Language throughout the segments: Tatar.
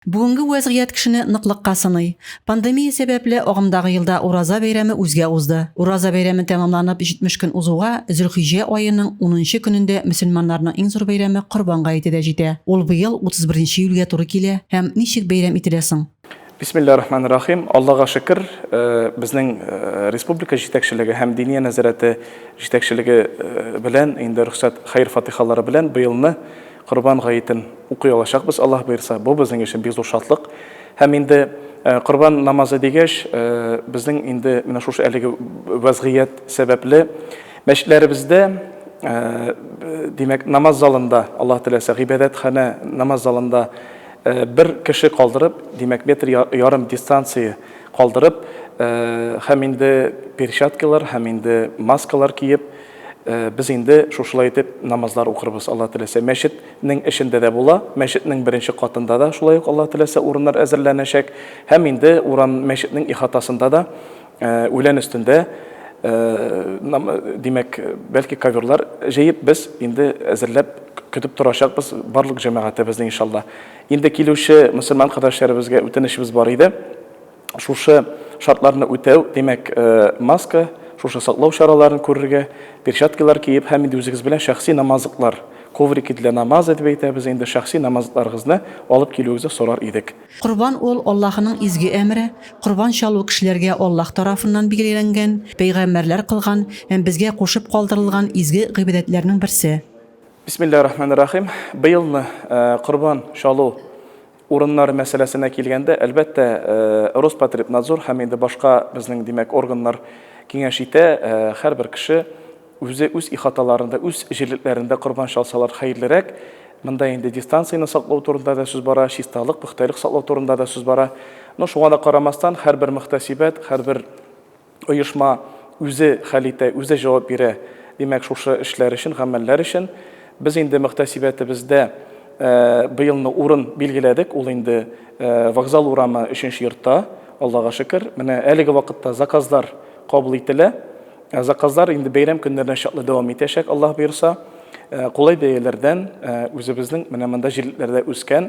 Бүгенге вәзгыять кешене ныклыкка сыный. Пандемия сәбәпле, агымдагы елда Ураза бәйрәме үзгә узды. Ураза бәйрәме тәмамланып 70 көн узуга, Зөлхиҗҗә аеның унынчы көнендә мөселманнарның иң зур бәйрәме Корбан гаете дә җитә. Ул быел 31 нче июльгә туры килә. Һәм ничек бәйрәм ителә соң? Бисмиллаһи рахмани рахим. Аллага шөкер, безнең республика җитәкчелеге һәм Диния нәзарәте җитәкчелеге белән инде рөхсәт хәер-фатихалары белән быелны Корбан гаетен укый алачакбыз, Аллаһ боерса. Бу безнең өчен бик зур шатлык. Һәм инде корбан намазы дигәч, безнең инде менә шушы әлеге вәзгыять сәбәпле мәчетләребездә, димәк, намаз залында, Аллаһ теләсә, гыйбадәтханә намаз залында бер кеше калдырып, димәк, метр ярым дистанция калдырып, һәм инде перчаткалар, һәм инде маскалар киеп, Без инде шушылай итеп намазлар укырбыз, Алла теләсә. Мәчетнең эчендә дә була, мәчетнең беренче катында да шулай ук Алла теләсә урыннар әзерләнәчәк. Һәм инде урам мәчетнең ихатасында да үлән өстендә димәк, бәлки коверлар җыеп без инде әзерләп көтеп торачакбыз барлык җәмәгатебезне иншалла. Инде килүче мөселман кардәшләребезгә үтенечебез бар иде. Шушы шартларны үтәү, димәк, маска, шушы саклау чараларын күрергә, перчаткалар киеп һәм инде үзегез белән шәхси намазлыклар, коврики для намаза дип әйтәбез инде, шәхси намазлыкларыгызны алып килүегезне сорар идек. Корбан ул, Аллаһының изге әмере, корбан чалу кешеләргә Аллаһ тарафыннан билгеләнгән, пәйгамбәрләр кылган һәм безгә кушып калдырылган изге гыйбадәтләрнең берсе. Бисмиллаһи рахмани рахим. Быелны корбан чалу Урыннар мәсьәләсенә килгәндә, әлбәттә, Роспотребнадзор һәм инде башка безнең, димәк, органнар киңәш итә, һәрбер кеше үзе үз ихаталарында, үз җирлекләрендә корбан чалсалар хәерлерәк. Монда инде дистанцияне саклау турында да сүз бара, чисталык, пөхтәлек саклау турында да сүз бара. Но шуңа да карамастан, һәрбер мөхтәсибәт, һәрбер Оешма үзе хәл итә, үзе җавап бирә. Димәк, шушы эшләр өчен, гамәлләр өчен без инде мөхтәсибәтебездә быелны урын билгеләдек, ул инде Вокзал урамы, өченче йортта, Аллага шөкер. Менә әлеге вакытта заказлар кабул ителә. Заказлар инде бәйрәм көннәренә чаклы дәвам итәчәк, Аллаһ боерса. Кулай бәяләрдән үзебезнең менә монда җирлекләрдә үскән,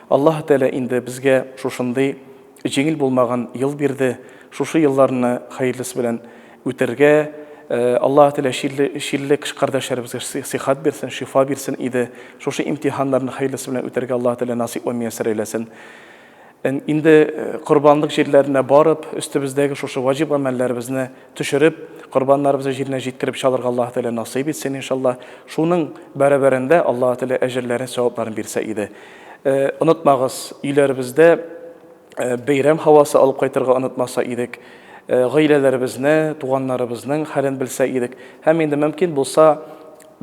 Аллаһы Тәгалә инде безгә шушындый җиңел булмаган ел бирде, шушы елларны хәерлесе белән үтәргә Аллаһы Тәгалә чирле чирле кш кардәшләребезгә сыйхат бирсен, шифа бирсен иде, шушы имтиханнарны хәерлесе белән үтәргә Аллаһы Тәгалә насыйп ва мияссәр әйләсен. Инде корбанлык җирләренә барып, өстебездәге шушы ваҗиб гамәлләребезне төшереп, корбаннарыбызны җиренә җиткереп чалырга Аллаһы Тәгалә насыйп итсен, иншаллаһ. Шуның бәрабәрендә Аллаһы Тәгалә әҗерләрен, савапларын бирсә иде. Онытмагыз, өйләребездә бәйрәм һавасы алып кайтырга онытмаса идек. Гаиләләребезне, туганнарыбызның хәлен белсә идек. Һәм инде мөмкин булса,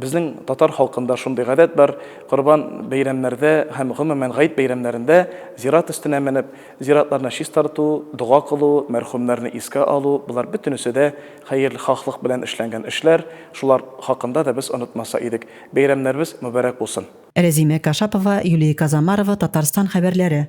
Безнең татар халкында шундый гадәт бар, корбан бәйрәмнәрдә һәм гомумән гает бәйрәмнәрендә зират өстенә менеп, зиратларны чистарту, дога кылу, мәрхүмнәрне искә алу, болар бөтенесе дә хәерлхаһлык белән эшләнгән эшләр, шулар хакында да без онытмаса идек. Бәйрәмнәребез мөбарәк булсын! Рәзимә Кашапова, Юлия Казамарова, Татарстан хәбәрләре.